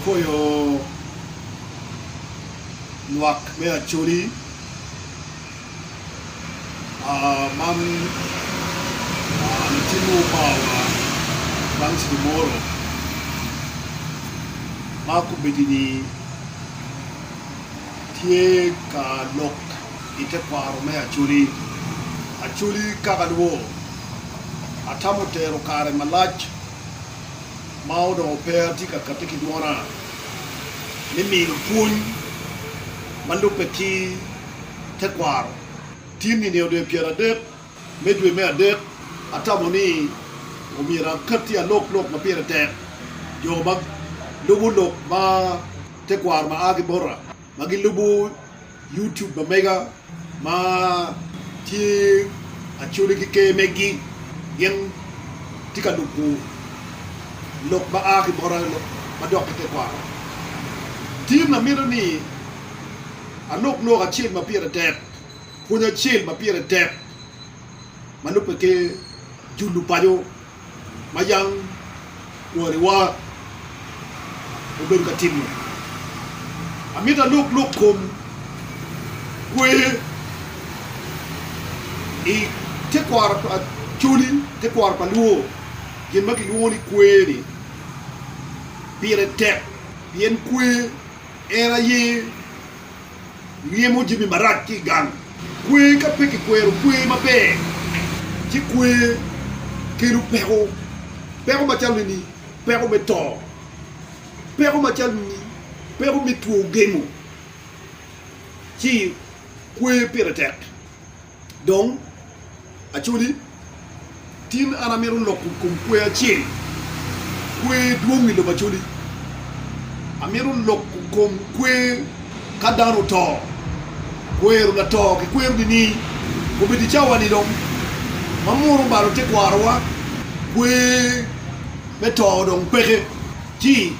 Akoyo lwak me Acholi man latin mo oparowa bang ceng moro ma kobedo ni tye ka lok i tekwaro me Acholi. Acholi kaka lwor atamo tero kare malac. ma onongo pe atye ka katti ki dwona me nino pwony ma lubbe ki tekwaro. Tin i nino dwe pyeradek me dwe me adek, atamo ni omyero akatti alok lok ma pire tek jo ma lubo lok ma tekwaro ma a ki bota. ma gilubo YouTube pa mega ma tye Acholi ki Ker megi gin tye ka lubo lok ma a ki bota ma dok ki tekwaro. Tim amito ni alok lok acel ma pire tek, pwony acel ma pire tek ma lubbe ki julu paco ma jang kwariwa obedo ka timo. Amito alub lok kom kwer i tekwaro pa Acholi, tekwaro pa Luo. Gin ma kilwongo ni kwer ni pire tek pien kwer en aye Ryemo jami marac ki i gang. Kwer ka pe kikwero kwer maber ci kwer kelo peko. Peko macalo nini? Peko me to. Peko macalo nini? Peko me two gemo. Ci kwer pire tek. Dong, acoli, tin an amito loko kom kwer acel, kwer dwong i lobo acoli. Amito loko kom kwer ka dano oto, kwero lato kikwero nining? Obed i cawa-ni dong ma munu obalo tekwarowa, kwer me to dong peke. Ci,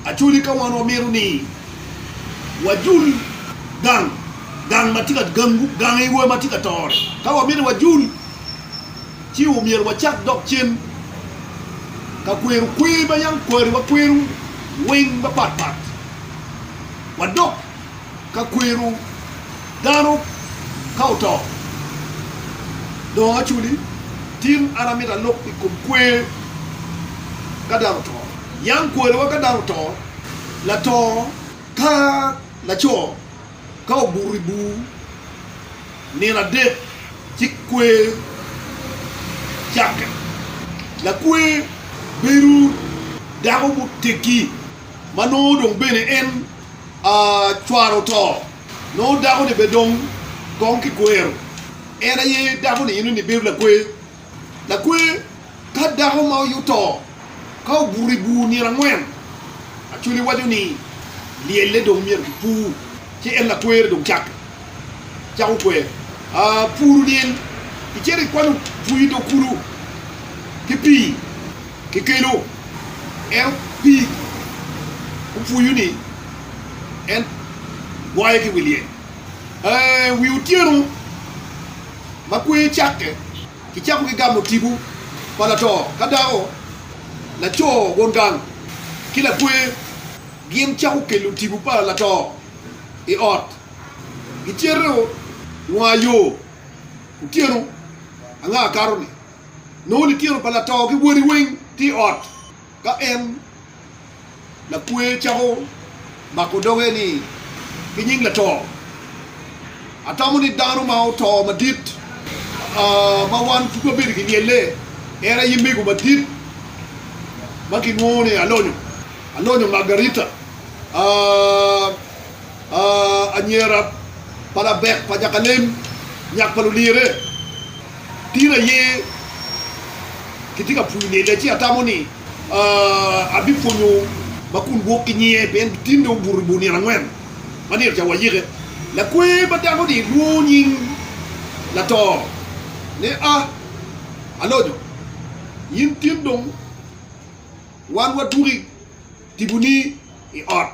acoli, ka wan wamito ni wajul gang, gang ma tye ka gangu, gang iwa ma tye ka tore. Ka wamito wajul, ci omyero wacak dok cen ka kwero kwer ma yam kwari wakwero weng mapat pat, wadok ka kwero dano ka oto. Dongo aculi, tin an amito alub i kom kwer ka dano oto. Yam kwariwa ka dano oto, lato ka laco, Ka obuto i bur nino adek ci kwer cakke. Lakwer bedo dako muteggi ma nongo dong bene en cware oto, nongo dakoni bene dong kong kikwero, en aye dakoni eno ni bedo lakwer. Lakwer, ka dako ma oyuto ka obuto i bur nino angwen, Acholi waco ni lyelle dong myero kipur, ci en lakwere dong cako cako kwer. Puru lyel, icito ikwanyo bwir dong kulu ki pii kikelo, ento pii opwuyu ni en gwayo ki wi lyel. Wi otyeno. ma kweyo cakke, kicako ki gamo tipo pa lato ka dako, laco won gang, ki lakwer. Gin cako kelo tipo pa lato i ot. Gicito wanga yo otyeno anga akato-ni, nongo litino pa lato ki wodi weng tye i ot. Ka en, lakwer cako mako doge ni, Ki nying lato, atamo ni dano ma oto madit ma wan pud wabedo ki lyelle en aye mego madit ma kinwongo ni Alonyo. Alonyo Margarita, anyira pa labek pa nyakalem, nyak pa lulyere. Tin aye kitye ka pwonyo niyene, ci atamo ni abipwonyo ma kun gwok ki nyiye, pien tin dong obuto bor nino angwen ma nino ca wayike. Lakwer ma dako-ni lwongo nying lato ni, A, Alonyo, in tin dong wan watuki tiboni i ot.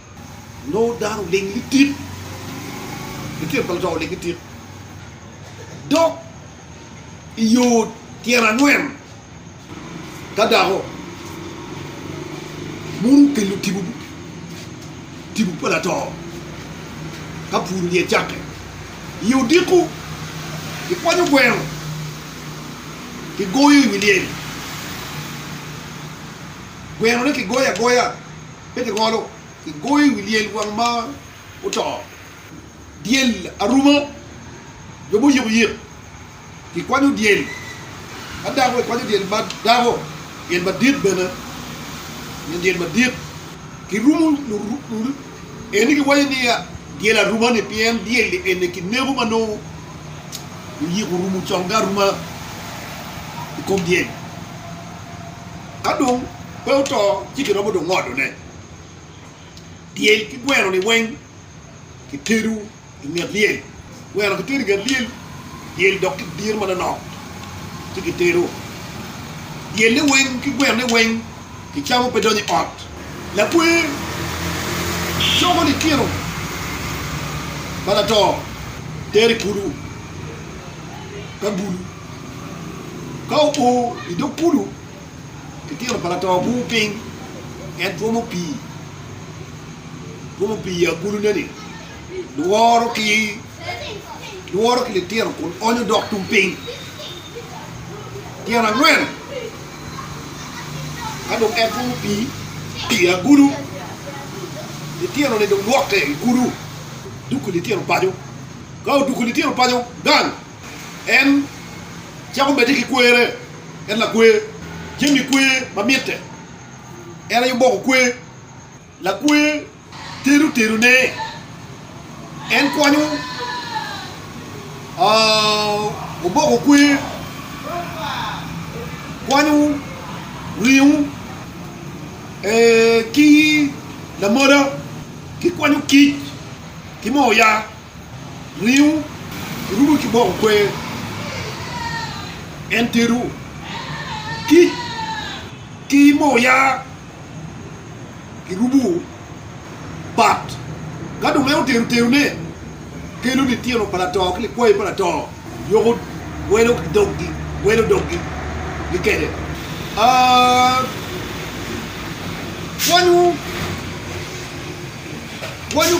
nongo dano oling litit, litino pa lutwa oling litit, dok i yo tyen angwen ka dako mono okelo tipo tipo pa lato ka puro dye cakke. I yo odiko kikwanyo gweno kigoyo i wi lyel, gwenone kigoyo agoya. pe kingolo, kigoyo i wi lyel wang ma oto, dyel aruma, jo muyiko yik, kikwanyo dyel ma dako, kikwanyo dyel ma dako, dyel madit bene, nyo dyel madit, kirumo eni, kiwaco ni dyel aruma-ni, pien dyel eni kineko ma nongo luyik orumo conge aruma i kom dyel. Ka dong pe oto, ci kiromo dong ngodone. Dyel ki gweno-ni weng kitedo i nget lyel. Gweno kitedo i nget lyel, dyel dok kidiro manonok ci kitedo. Dyel-le weng ki gweno-ne weng kicamo pe donyo i ot. Lakwer coko litino pa lato tero i kulu ka bulu. Ka oo i dog kulu, litino pa lato bwungo piny, en twomo pii, twomo pii i agulune-ni, lworo ki, lworo ki litino kun onyo dok tung piny. Tyen angwen, ka dong en twomo pii i agulu, litino-ni dong lwokke i kulu, duko litino paco. Ka oduko litino paco gang, En cako medde ki kwerre, en lakwer. Jami kwer ma mitte, en aye oboko kwer. Lakwer tero terone, en kwonyo oboko kwer, kwanyo ringo ki lamola, ki kwanyo kic ki moo oya. Riwu orudo ki boko kwer, en terowu kic ki moo yaa, kirubowu bat. Ka dong en otero terone, kelo litino pa lato ki likwayi pa lato, yoko welo doggi, welo doggi kede. Pwonyu, pwonyu.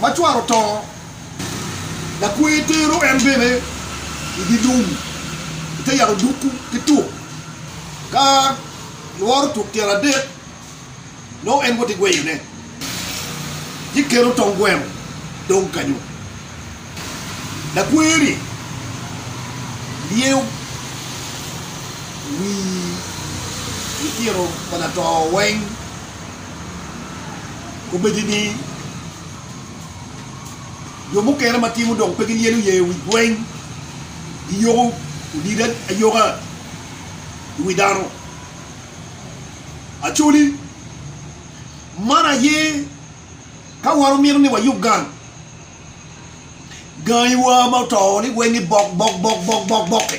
ma cware oto, lakwer tero en bene i dye lum i te yat odukku ki tuk. Ka lworo tuk tyen adek, nongo en woti gweyone, ci kelo tong gweno dong kanyu. Lakwer-ri lyeyo wi litino pa lato weng. Obedo ni jo mukene ma timo dong pe gilyelo ye wi gweng, giyoko odide ayoka i wi dano. Actually, man aye ka wan wumito ni wayub gang, gangiwa ma oto ni weng ni bok bok bok bok bok bok-ki.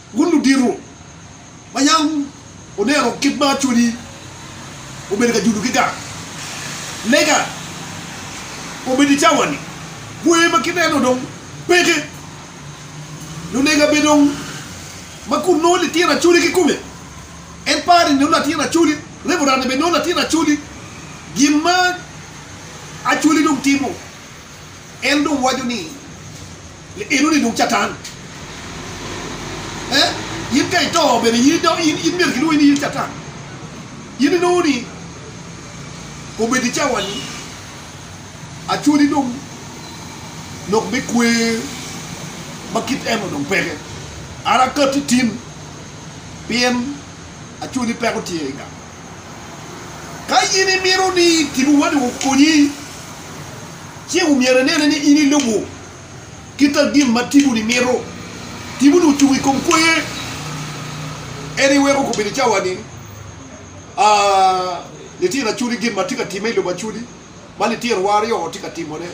Wun ludito, ma yam wuneno kit ma Acholi obedo ka judo ki gang lega obedo i cawa-ni, gwe ma kineno dong peke. Lulega bene dong ma kun nongo litino Acholi kikome, en pare ni nongo latin Acholi, reverend-ni bene nongo latin Acholi. Gin ma Acholi dong timo, en dong waco ni. Ni eno ni dong Catan eh in ka ito bene in dong in in myero kilwongi ni in Catan. In inongo ni obedo i cawani acwodi dong lok me kwer ma kit eno dong peke. An akatti tin pien acwodi peko tye i gang. Ka in imito ni kilwongi ni okonyi ci omyero inene ni in ilubo. Kita gin ma tibu-ni mito. Tibu-ni ocung i kom kwoye. En aye weko kobbe ni cawa-ni, a, litino acudi gin ma tye ka timme i lobo acudi, ma litinowa aryo tye ka timone,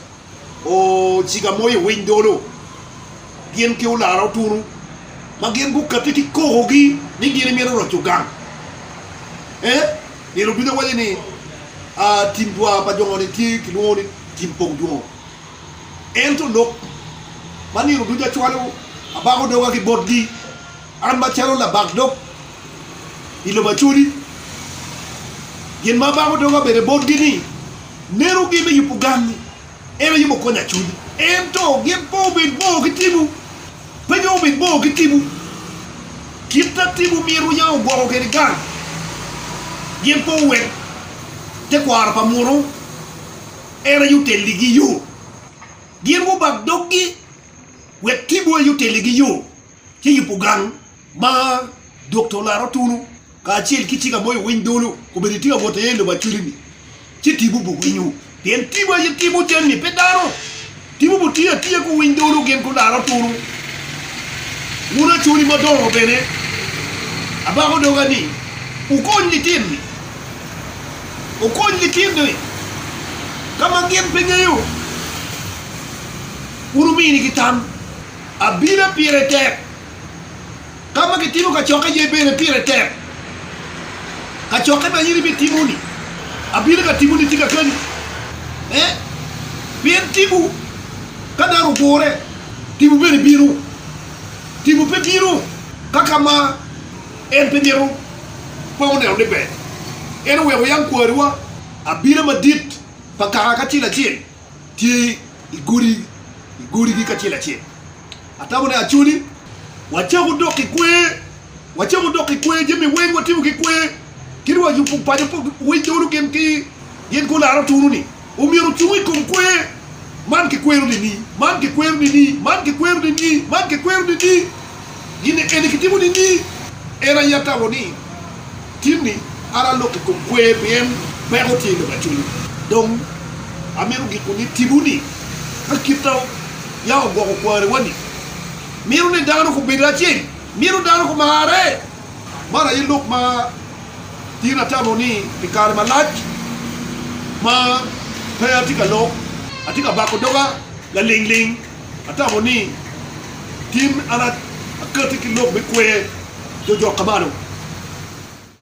o, ciga moyo owiny dolo, gin ki olara otunu, ma gin gukati ki kokogi ni gin imito roco gang. E, nino ducu awaco ni, a, tim dwar pa jo-ni tye kilwongo ni tim pok dwongo. Ento lok ma nino ducu acwalo, abako doga ki botgi, an macalo labak dog i lobo acodi. Gin ma abako doga bene botgi ni, Nenu gin me yubo gammi, en aye mukonyo acudi. Ento gin pe wubed bor ki timwu, pe dong wubed bor ki timwu. Kit ma timwu myero wuya ogwoko kwede gang, gin pe wuwek tekwaro pa muno. en aye otelligi yo. Gin gubak doggi wek tipo aye otelligi yo, ci yubo gang ma Dokta Olaro Tunu kacel ki Tika Moyo Winy Dolo obedo itye ka wot iye i lobo Acwiri-ni, ci tipo obwinyo pien tipo aye timo jami, pe dano. Timo butiye atiya ku winy dolo gin ku laro tunu. Wun acoli madongo bene, abako doga ni wukony litini. Wukony litini ka ma gin pe ngeyo, wun wuminigi tam. Abila pire tek. Ka ma kitimo kacokke aye bene pire tek. Kacokke ma in ibitimo-ni, abino ka timone tika keni? Ee, pien tipo ka dano ogure, tipo bene bino. Tipo pe bino ka ka ma en pe mito kong oneno ni ber. En oweko yam kwariwa abina madit pa kaka acel acel. tye i godi i godigi kacel acel. Atamo ne acoli, wacako dok ki kwer, wacako dok ki kwer jami weng watimo ki kwer, kit wa yubu paco pa we dolo gin ki gin ko laro tunu ni omyero ocung i kom kwer, man ki kwero nini, man ki kwero nini, man ki kwero nini, man ki kwero nini, gin eni ki timo nini, en aye atamo ni. Timmy, An alok i kom kwer pien peko tye lok acwiny. Dong amito giko ni tipo-ni ka kita yam ogwoko kwariwa-ni. Mito ni dano gubed acel. Mito dano gumarre. Man aye lok ma in atamo ni pi kare malac ma pe atye ka lok, atye ka bako doga laling ling atamo ni gin an akati ki lok me kwer jojok ka malo.